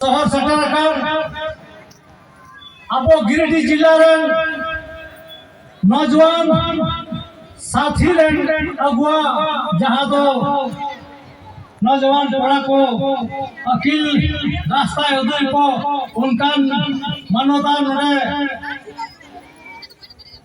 ᱥᱚᱦᱚᱨ ᱥᱮᱴᱮᱨ ᱟᱠᱟᱱ ᱟᱵᱚ ᱜᱤᱨᱤᱰᱤ ᱡᱤᱞᱟ ᱨᱮᱱ ᱱᱚᱡᱣᱟᱱ ᱥᱟᱛᱷᱤ ᱨᱮᱱ ᱟᱵᱚᱣᱟᱜ ᱡᱟᱦᱟᱸ ᱫᱚ ᱱᱚᱡᱣᱟᱱ ᱠᱚᱲᱟ ᱠᱚ ᱟᱹᱠᱤᱞ ᱨᱟᱥᱛᱟ ᱩᱫᱩᱜ ᱠᱚ ᱚᱱᱠᱟᱱ ᱢᱟᱱᱚᱛᱟᱱ ᱱᱚᱰᱮ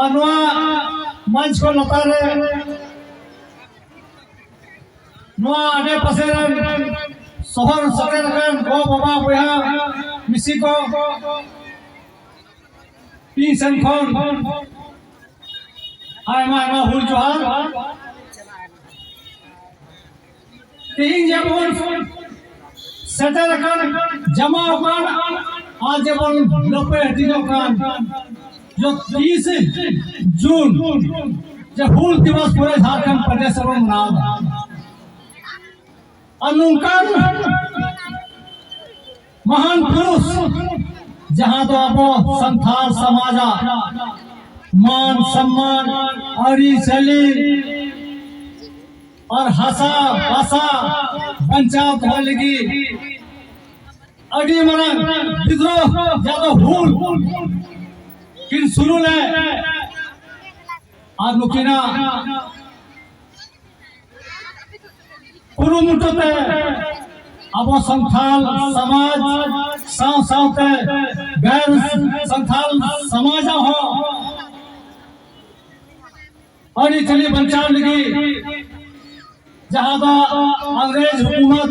ᱟᱨ ᱱᱚᱣᱟ ᱢᱚᱧᱪ ᱠᱚ ᱞᱟᱛᱟᱨ ᱨᱮ ᱱᱚᱣᱟ ᱟᱰᱮ ᱯᱟᱥᱮ ᱨᱮᱱ ᱥᱚᱦᱚᱨ ᱥᱮᱴᱮᱨ ᱨᱮᱱ ᱜᱚ ᱵᱟᱵᱟ ᱵᱚᱭᱦᱟ ᱢᱤᱥᱤ ᱠᱚ ᱤᱧ ᱥᱮᱱ ᱠᱷᱚᱱ ᱟᱭᱢᱟ ᱟᱭᱢᱟ ᱦᱩᱞ ᱡᱚᱦᱟᱨ ᱛᱮᱦᱮᱧ ᱡᱮᱢᱚᱱ ᱥᱮᱴᱮᱨ ᱟᱠᱟᱱ ᱡᱟᱢᱟ ᱟᱠᱟᱱ ᱟᱨ ᱡᱮᱢᱚᱱ ᱞᱟᱹᱯᱟᱹᱭ ᱦᱟᱹᱴᱤᱧᱚᱜ ᱠᱟᱱ ᱛᱤᱨᱤᱥᱮ ᱡᱩᱱ ᱡᱮ ᱦᱩᱞ ᱫᱤᱵᱚᱥ ᱯᱚᱨᱮ ᱡᱷᱟᱲᱠᱷᱚᱸᱰ ᱯᱨᱚᱫᱮᱥ ᱨᱮᱵᱚᱱ ᱢᱟᱱᱟᱣᱫᱟ ᱟᱨ ᱱᱚᱝᱠᱟᱱ ᱢᱟᱦᱟᱱ ᱯᱩᱨᱩᱥ ᱡᱟᱦᱟᱸ ᱫᱚ ᱟᱵᱚ ᱥᱟᱱᱛᱟᱲ ᱥᱚᱢᱟᱡᱟᱜ ᱢᱟᱱ ᱥᱚᱢᱢᱟᱱ ᱟᱹᱨᱤᱪᱟᱹᱞᱤ ᱟᱨ ᱦᱟᱥᱟ ᱵᱷᱟᱥᱟ ᱵᱟᱧᱪᱟᱣ ᱫᱚᱦᱚ ᱞᱟᱹᱜᱤᱫ ᱟᱹᱰᱤ ᱢᱟᱨᱟᱝ ᱵᱤᱫᱽᱨᱳᱦ ᱡᱟᱦᱟᱸ ᱫᱚ ᱦᱩᱞ ᱠᱤᱱ ᱥᱩᱨᱩ ᱞᱮᱫ ᱟᱨ ᱱᱩᱠᱤᱱᱟᱜ ᱠᱩᱨᱩᱢᱩᱴᱩ ᱛᱮ ᱟᱵᱚ ᱥᱟᱱᱛᱟᱞ ᱥᱚᱢᱟᱡᱽ ᱥᱟᱶ ᱥᱟᱶᱛᱮ ᱜᱟᱨ ᱥᱟᱱᱛᱟᱞ ᱥᱚᱢᱟᱡᱽ ᱦᱚᱸ ᱟᱹᱰᱤ ᱪᱟᱹᱞᱤ ᱵᱟᱧᱪᱟᱣ ᱞᱟᱹᱜᱤᱫ ᱡᱟᱦᱟᱸ ᱫᱚ ᱤᱝᱨᱮᱡᱽ ᱦᱩᱠᱩᱢᱚᱛ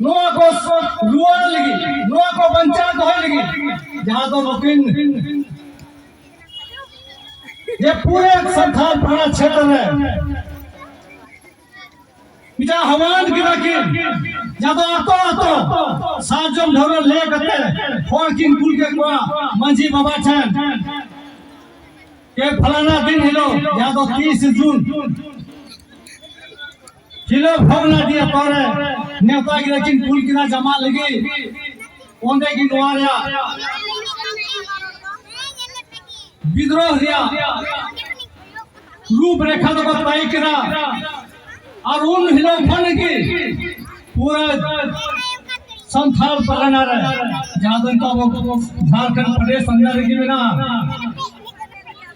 ᱱᱚᱣᱟ ᱠᱚ ᱨᱩᱣᱟᱹᱲ ᱞᱟᱹᱜᱤᱫ ᱱᱚᱣᱟ ᱠᱚ ᱵᱟᱧᱪᱟᱣ ᱫᱚᱦᱚᱭ ᱞᱟᱹᱜᱤᱫ ᱡᱟᱦᱟᱸ ᱫᱚ ᱱᱩᱠᱤᱱ ᱡᱮ ᱯᱩᱨᱟᱹ ᱥᱟᱱᱛᱟᱲ ᱯᱟᱲᱟ ᱪᱷᱮᱛᱨᱚ ᱨᱮ ᱢᱤᱫᱴᱟᱝ ᱦᱟᱣᱟᱱ ᱠᱮᱫᱟ ᱠᱤᱱ ᱡᱟᱦᱟᱸ ᱫᱚ ᱟᱛᱳ ᱟᱛᱳ ᱥᱟᱨᱡᱚᱢ ᱰᱷᱟᱹᱣᱨᱟᱹ ᱞᱮ ᱠᱟᱛᱮ ᱦᱚᱲ ᱠᱤᱱ ᱠᱩᱞ ᱠᱮᱫ ᱠᱚᱣᱟ ᱢᱟᱺᱡᱷᱤ ᱵᱟᱵᱟ ᱴᱷᱮᱱ ᱡᱮ ᱯᱷᱟᱞᱟᱱᱟ ᱫᱤᱱ ᱦᱤᱞᱳᱜ ᱡᱟᱦᱟᱸ ᱫᱚ ᱛᱤᱨᱤᱥ ᱡᱩᱱ ᱦᱤᱞᱳᱜ ᱵᱷᱚᱜᱽᱱᱟ ᱰᱤ ᱟᱛᱳ ᱨᱮ ᱱᱮᱣᱛᱟ ᱜᱤᱨᱟᱹ ᱠᱤᱱ ᱠᱩᱞ ᱠᱮᱫᱟ ᱡᱟᱢᱟ ᱞᱟᱹᱜᱤᱫ ᱚᱸᱰᱮ ᱜᱮ ᱱᱚᱣᱟ ᱨᱮᱭᱟᱜ ᱵᱤᱫᱨᱳᱦ ᱨᱮᱭᱟᱜ ᱨᱩᱯ ᱨᱮᱠᱷᱟ ᱫᱚᱠᱚ ᱛᱟᱭ ᱠᱮᱫᱟ ᱟᱨ ᱩᱱ ᱦᱤᱞᱳᱜ ᱠᱷᱚᱱ ᱜᱮ ᱯᱩᱨᱟᱹ ᱥᱟᱱᱛᱟᱲ ᱯᱟᱨᱜᱟᱱᱟ ᱨᱮ ᱡᱟᱦᱟᱸ ᱫᱚ ᱱᱤᱛᱚᱜ ᱟᱵᱚ ᱡᱷᱟᱲᱠᱷᱚᱸᱰ ᱯᱨᱚᱫᱮᱥ ᱟᱱᱰᱟᱨ ᱨᱮᱜᱮ ᱢᱮᱱᱟᱜᱼᱟ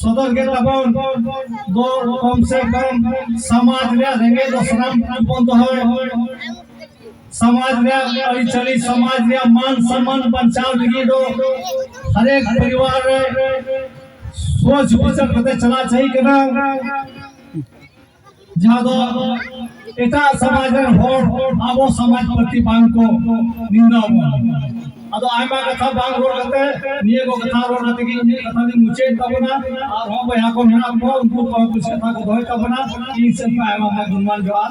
ᱥᱚᱫᱚᱨ ᱜᱮ ᱛᱟᱵᱚᱱ ᱫᱚ ᱠᱚᱢ ᱥᱮ ᱠᱚᱢ ᱥᱚᱢᱟᱡᱽ ᱨᱮᱭᱟᱜ ᱨᱮᱸᱜᱮᱡ ᱫᱚ ᱥᱟᱱᱟᱢ ᱵᱚᱱ ᱫᱚᱦᱚᱭ ᱥᱚᱢᱟᱡᱽ ᱨᱮᱭᱟᱜ ᱟᱹᱨᱤᱪᱟᱹᱞᱤ ᱥᱚᱢᱟᱡᱽ ᱨᱮᱭᱟᱜ ᱢᱟᱱ ᱥᱚᱱᱢᱟᱱ ᱵᱟᱧᱪᱟᱣ ᱞᱟᱹᱜᱤᱫ ᱫᱚ ᱦᱟᱨᱮᱠ ᱯᱚᱨᱤᱵᱟᱨ ᱨᱮ ᱥᱚᱪ ᱵᱤᱪᱟᱨ ᱠᱟᱛᱮ ᱪᱟᱞᱟᱜ ᱪᱟᱹᱦᱤ ᱠᱟᱱᱟ ᱡᱟᱦᱟᱸ ᱫᱚ ᱮᱴᱟᱜ ᱥᱚᱢᱟᱡᱽ ᱨᱮᱱ ᱦᱚᱲ ᱟᱵᱚ ᱥᱚᱢᱟᱡᱽ ᱯᱨᱚᱛᱤ ᱵᱟᱝ ᱠᱚ ᱱᱤᱱᱫᱟ ᱵᱚᱱᱟ ᱟᱫᱚ ᱟᱭᱢᱟ ᱠᱟᱛᱷᱟ ᱵᱟᱝ ᱨᱚᱲ ᱠᱟᱛᱮ ᱱᱤᱭᱟᱹ ᱠᱚ ᱠᱟᱛᱷᱟ ᱨᱚᱲ ᱠᱟᱛᱮ ᱜᱮ ᱤᱧᱟᱹᱜ ᱠᱟᱛᱷᱟ ᱫᱚᱧ ᱢᱩᱪᱟᱹᱫ ᱛᱟᱵᱚᱱᱟ ᱟᱨ ᱦᱚᱸ ᱵᱚᱭᱦᱟ ᱠᱚ ᱢᱮᱱᱟᱜ ᱠᱚᱣᱟ ᱩᱱᱠᱩ ᱠᱚ ᱦᱚᱸ ᱠᱩᱥᱤ ᱠᱟᱛᱷᱟ ᱠᱚ ᱫᱚᱦᱚᱭ ᱛᱟᱵᱚᱱᱟ ᱤᱧ ᱥᱮᱫ ᱠᱷᱚᱱ ᱟᱭᱢᱟ ᱟᱭᱢᱟ ᱜᱩᱱᱢᱟᱱ ᱡᱚᱦᱟᱨ